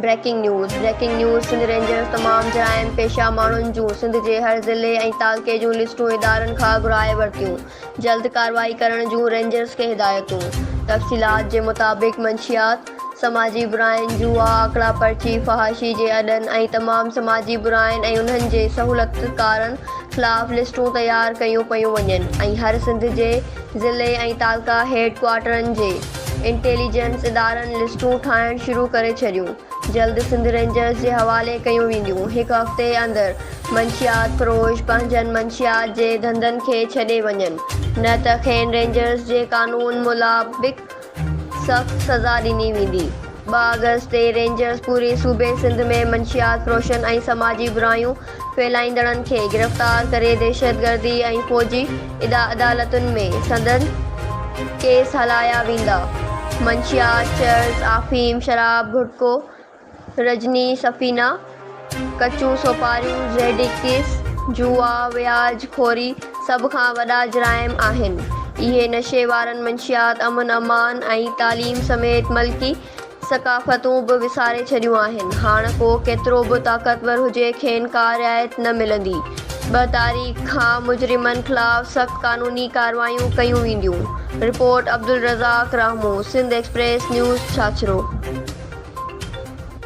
Breaking news breaking news Sindh Rangers تمام جرائم پيشه ماڻهن جون سنڌ جي هر ضلعي ۽ تعلقي جون لسٽون ادارن کان گهرائي ورتيون جلد ڪارروائي ڪرڻ جون رينجرز کي هدايتون تفصيلات جي مطابق منشيات سماجي براين، جوئا، آڪڙا پرچي، فحاشي جي اڏن ۽ تمام سماجي براين ۽ انهن جي سهولتڪارن خلاف لسٽون تيار ڪيون پيون وڃن ۽ هر سنڌ جي ضلعي ۽ تعلقه هيڊ ڪوارٽرن جي انٽيليجنس ادارن لسٽون ٺاهڻ شروع ڪري ڇڏيون جلد سنڌ رينجرز جي حوالي ڪيون وينديون هڪ هفتي اندر منشيات فروش پنهنجن منشيات جي ڌنڌن کي ڇڏي وڃن نه ته کين رينجرز جي قانون ملابق سخت سزا ڏني ويندي. ٻه آگسٽ تي رينجرز پوري صوبي سنڌ ۾ منشيات فروشن ۽ سماجي برايون ڦهلائيندڙن کي گرفتار ڪري دهشتگردي ۽ فوجي عدالتن ۾ سندن ڪيس هلايا ويندا. منشيات، چرس، آفيم، شراب، گهٽڪو، رجني، سفينه، ڪچون سوپاريون، زيڊ ايڪيس، جوا، وياج خوري سڀ کان وڏا جرائم آهن. اهي نشي وارن منشيات، امن امان ۽ تعليم سميت ملڪي ثقافتون به وساري ڇڏيون آهن. هاڻ ڪو ڪيترو به طاقتور هجي کين ڪا رعايت نه ملندي. ٻه تاريخ کان مجرمن خلاف سخت قانوني ڪارروايون ڪيون وينديون. Report Abdul Razzaq Rahmoon Sindh Express News Chachro.